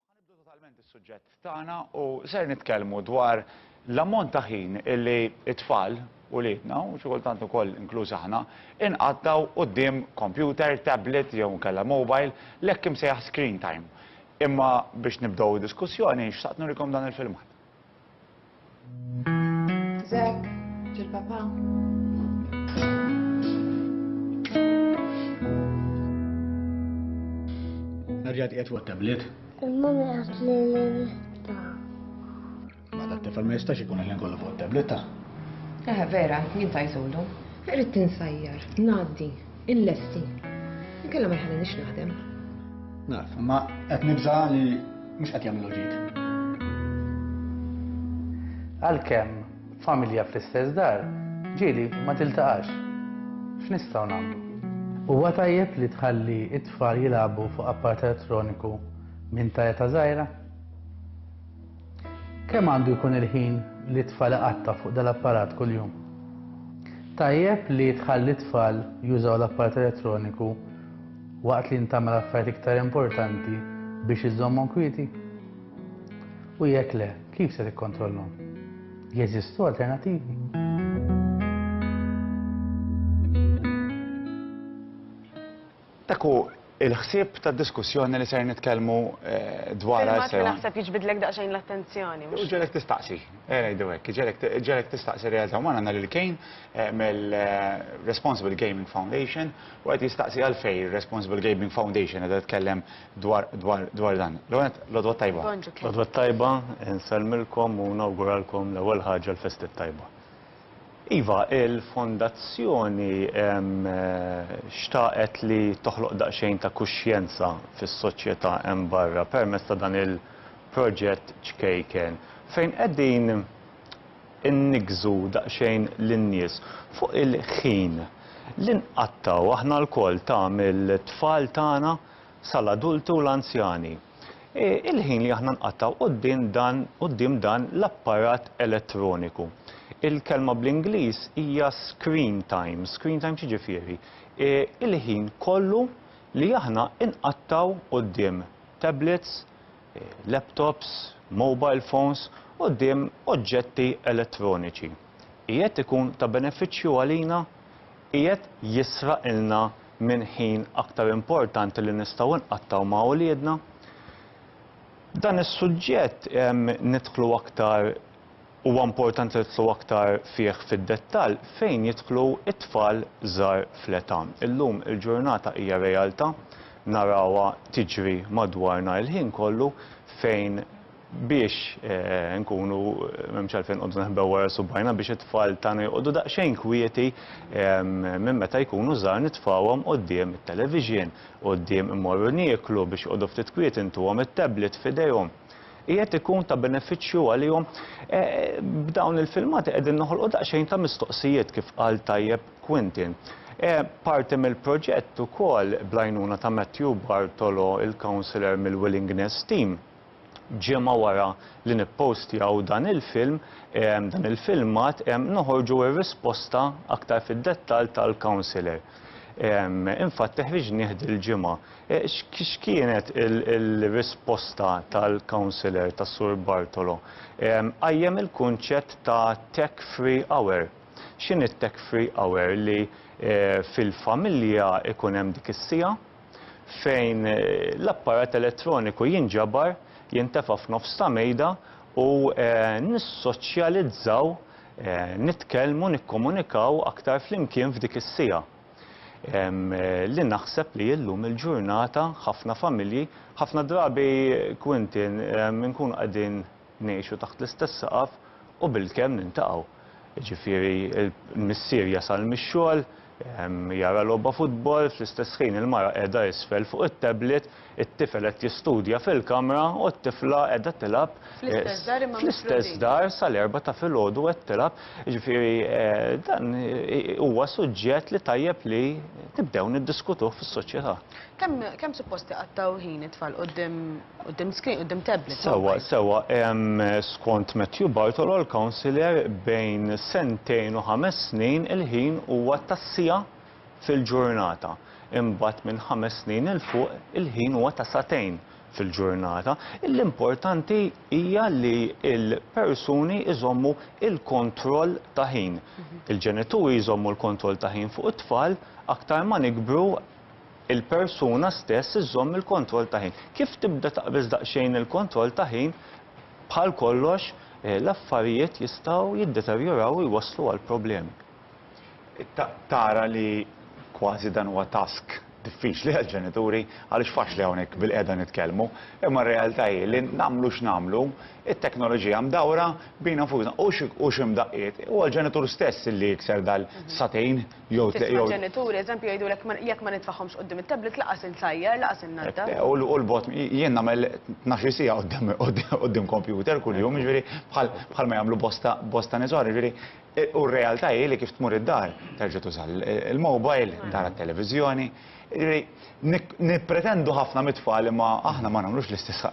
Ħanibdu totalment is-suġġett tagħna u ser nitkellmu dwar l-ammont ta' ħin illi t-tfal u liedna u xi kultant ukoll inkluż aħna inqattaw quddiem kompjuter, tablet jew inkella mobile l-hekk imsejjaħ screen time. Imma biex nibdew id-diskussjoni xtaqt nurikom dan il-filmat. Zek, ġil papa. Nerġa' tqiegħed fuq tablet. Il-mami qed li l-ta. Ma ta' tifel ma jistax ikun il-lin kollu fuq tablet ta'. Eh, vera, jien tajtulu. Irrid tinsajjar, ngħaddi. Il-lesti. Inkella ma jħallinix naħdem. Naf, ma qed nibża li mhux qed jagħmlu ġid. Għalkemm familja fl-istess dar, ġieli ma tiltaqax. X'nistgħu nagħmlu? Huwa tajjeb li tħalli it-tfal jilagħbu fuq apparat elettroniku minn ta' eta żgħira? Kemm għandu jkun il-ħin li t-tfal iqatta' fuq dal-apparat kuljum? Tajjeb li tħalli t-tfal jużaw l-apparat elettroniku waqt li int tagħmel affarijiet iktar importanti biex iżżommhom kwieti? U jekk le, kif se tikkontrollhom? Jeżistu alternattivi? Dak hu l-ħsieb tad-diskussjoni li ser nitkellmu dwarha issa. Filmat li naħseb jiġbidlek daqsxejn l-attenzjoni, mhux? Iġegħlek tistaqsi, ejja ngħidu hekk, iġegħlek tistaqsi r-realtà. Hawn għandna lil Kane mill-Responsible Gaming Foundation u qed jistaqsi għalfejn ir-Responsible Gaming Foundation qiegħda titkellem dwar dan. L-ewwel nett, l-għodwa t-tajba. Bonġu Kane. L-għodwa t-tajba, insellmilkom u nawguralkom l-ewwel ħaġa l-festi t-tajba. Iva, il-Fondazzjoni xtaqet li toħloq daqsxejn ta' kuxjenza fis-soċjetà hemm barra permezz ta' dan il-proġett ċkejken fejn qegħdin inniggżu daqsxejn lin-nies fuq il-ħin li nqattgħu aħna lkoll ta' mill-tfal tagħna sal-adulti u l-anzjani. Hi l-ħin li aħna nqattgħu quddiem dan quddiem dan l-apparat elettroniku. Il-kelma bl-Ingliż hija screen time. Screen time x'jiġifieri? Hi l-ħin kollu li aħna nqattgħu quddiem tablets, laptops, mobile phones, quddiem oġġetti elettroniċi. Qiegħed ikun ta' benefiċċju għalina? Qiegħed jisraqilna minn ħin aktar importanti li nistgħu nqattgħu ma' uliedna. Dan is-suġġett nidħlu aktar huwa importanti li nidħlu aktar fih fid-dettall fejn jidħlu t-tfal żgħar fl-età. Illum il-ġurnata hija realtà, narawha tiġri madwarna l-ħin kollu fejn biex inkunu m'hemmx għalfejn inqogħdu neħbew wara subgħajna biex it-tfal tagħna joqogħdu daqsxejn kwieti minn meta jkunu żgħar nitfgħuhom quddiem it-television, quddiem immorru nieklu biex joqogħdu ftit kwieti ntuhom it-tablet f'idejhom. Qiegħed ikun ta' benefiċċju għalihom? B'dawn il-filmati qegħdin noħolqu daqsxejn ta' mistoqsijiet kif qal tajjeb Quentin. Parti mill-proġett ukoll bl-għajnuna ta' Matthew Bartolo, il-counsellor mill-Willingness Team, Ġimgħa wara li nippostjaw dan il-film, dan il-filmat, noħorġu r-risposta aktar fid-dettall tal-counsellor. Infatti ħriġnieh dil-ġimgħa. X'kienet il-risposta tal-counsellor ta' Sur Bartolo? Qajjem il-kunċett ta' tech free hour. X'inhi t-tech free hour li fil-familja jkun hemm dik is-siegħa, fejn l-apparat elettroniku jinġabar, jintefa' f'nofs ta' mejda u nissoċjalizzaw, nitkellmu, nikkomunikaw aktar flimkien f'dik is-siegħa. Li naħseb li illum il-ġurnata ħafna familji, ħafna drabi Quintin inkunu qegħdin, Ngħixu taħt l-istess saqaf u bilkemm niltaqgħu. Jiġifieri l-missier jasal mix-xogħol, jara logħba futbol, fl-istess ħin il-mara qiegħda isfel fuq it-tablet, it-tifel qed jistudja fil-kamra u t-tifla qiegħda tilgħab fl-istess dar sal-erbgħa ta' filgħodu qed tilgħab. Jiġifieri dan huwa suġġett li tajjeb li nibdew niddiskutuh fis-soċjetà. Kemm suppost iqattgħu ħin it-tfal quddiem Quddiem screen, quddiem tablet. Sewwa, sewwa, skont Matthew Bartolo, l-councillor, bejn sentejn u ħames snin il-ħin huwa ta' siegħa fil-ġurnata. Imbagħad minn ħames snin 'il fuq il-ħin huwa ta' sagħtejn fil-ġurnata. L-importanti hija li l-persuni jżommu l-kontroll ta' ħin. Il-ġenituri jżommu l-kontroll ta' ħin fuq it-tfal, aktar ma nikbru, il-persuna stess iżżomm il-kontroll ta' ħin. Kif tibda taqbeż daqsxejn il-kontroll ta' ħin, bħal kollox, l-affarijiet jistgħu jiddeterjoraw u jwasslu għal problemi. Tara li kważi dan huwa task diffiċli għall-ġenituri għaliex faċli hawnhekk bilqiegħda nitkellmu, imma r-realtà hi li nagħmlu x'nagħmlu, it-teknoloġija mdawra bina nfusna u xi mdaqqiet huwa l-ġenitur stess li jikser dal-sagħtejn. jew tliq jew. Tisma' ġenituri, eżempju, jgħidulek jekk ma nitfagħhomx quddiem it-tablet laqas insajjar, laqas innaddaf. U l-bogħod, jien nagħmel tnax-il siegħa quddiem kompjuter kuljum, jiġifieri bħalma jagħmlu bosta nies oħra, jiġifieri u r-realtà hi li kif tmur id-dar terġa' tuża l-mobile, tara t-televiżjoni. Jiġifieri, nippretendu ħafna mit-tfal imma aħna ma nagħmlux l-istess,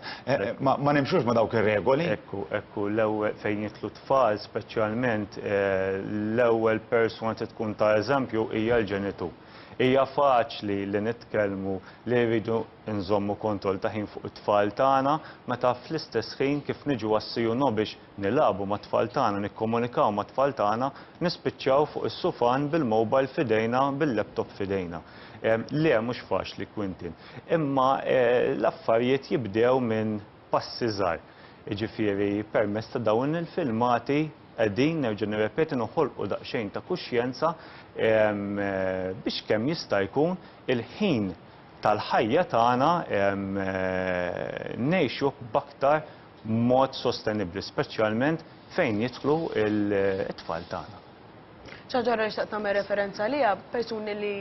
ma nimxux ma' dawk ir-regoli. Ekku, ekku, l-ewwel fejn jidħlu t-tfal speċjalment l-ewwel persuna trid tkun ta' eżempju hija l-ġenitur. Hija faċli li nitkellmu li rridu nżommu kontroll ta' ħin fuq it-tfal tagħna meta fl-istess ħin kif niġu għas-CU biex nilagħbu mat-tfal tagħna, nikkomunikaw mat-tfal tagħna, nispiċċaw fuq is-sufan bil-mobile f'idejna, bil-laptop f'idejna. Le, mhux faċli, Quintin. Imma l-affarijiet jibdew minn passi żgħar. Jiġifieri, permezz ta' dawn il-filmati qegħdin, nerġa' nirrepeti, noħolqu daqsxejn ta' kuxjenza biex kemm jista' jkun il-ħin tal-ħajja tagħna ngħixuh b'aktar b'mod sostenibbli, speċjalment fejn jidħlu t-tfal tagħna. Xi ħaġa oħra li xtaqt nagħmel referenza għaliha, persuni li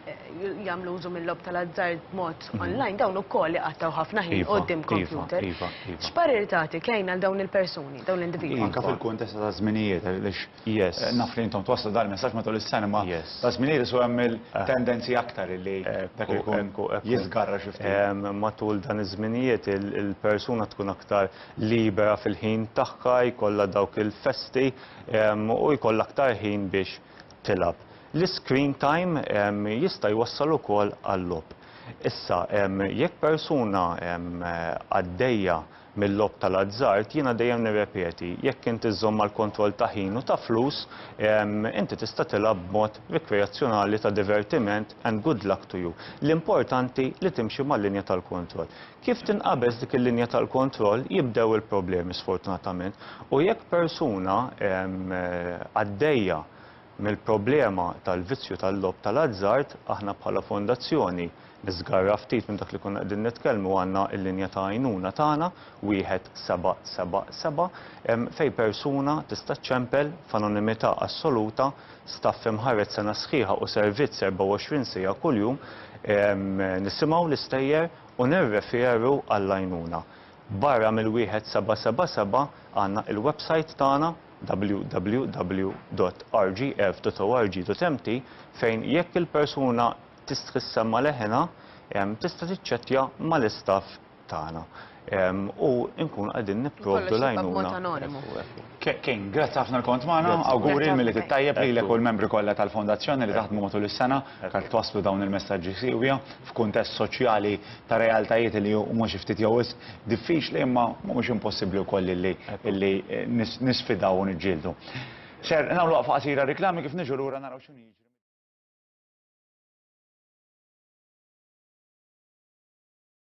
jagħmlu użu mill-logħob tal-azzard b'mod mhm. online dawn ukoll iqattgħu ħafna ħin iva, quddiem iva, kompjuter. Iva, X'parir tagħti kejn għal dawn il-persuni, dawn l-individwi? Anke fil-kuntest ta' żminijiet għaliex Yes. Naf li intom twasslu dan il-messaġġ matul is-sena imma ta' żmien iris u hemm il-tendenzi aktar li dak ikun jiżgarra xi ftit. Matul dan iż-żminijiet il-persuna tkun aktar libera fil-ħin tagħha, jkollha dawk il-festi u jkollha aktar ħin biex tilgħab. L-iscreen time jista' jwassal ukoll għal-logħob. Issa jekk persuna għaddejja mil-logħob tal-azzard, jiena dejjem nirrepeti, jekk inti żżomm mal-kontroll ta' ħin u ta' flus, inti tista' tilgħab b'mod rikreazzjonali ta' divertiment and good luck to you. L-importanti li timxi mal-linja tal-kontroll. Kif tinqabeż dik il-linja tal-kontroll jibdew il-problemi sfortunatament u jekk persuna għaddejja mill-problema tal-vizzju tal-logħob tal-azzard, aħna bħala fondazzjoni, niżgarra ftit minn dak li konna qegħdin nitkellmu, għandna l-linja ta' għajnuna tagħna, 1777, fejn persuna tista' ċċempel f'anonimità assoluta staff imħarred sena sħiħa u servizz 24 siegħa kuljum, nisimgħu l-istejjer u nirreferu għall-għajnuna. Barra mill-1777 għandna il-websajt tagħna, www.rgf.org.mt fejn jekk il-persuna tistħi ssemma' leħinha, tista' tiċċettja mal-istaff tagħna u nkunu qegħdin nipprovdu l-għajnuna. King, grazzi ħafna li kont magħna, awguri l-Milied it-Tajjeb lilek u l-membri kollha tal-Fondazzjoni li taħdmu matul is-sena biex twasslu dawn il-messaġġi siewja f'kuntest soċjali ta' realtajiet li huma xi ftit jew wisq diffiċli imma mhumiex impossibbli wkoll illi illi nisfidaw u niġġieldu. Ser nagħmlu waqfa qasira għar-riklami kif niġu lura naraw x'inhu jiġri.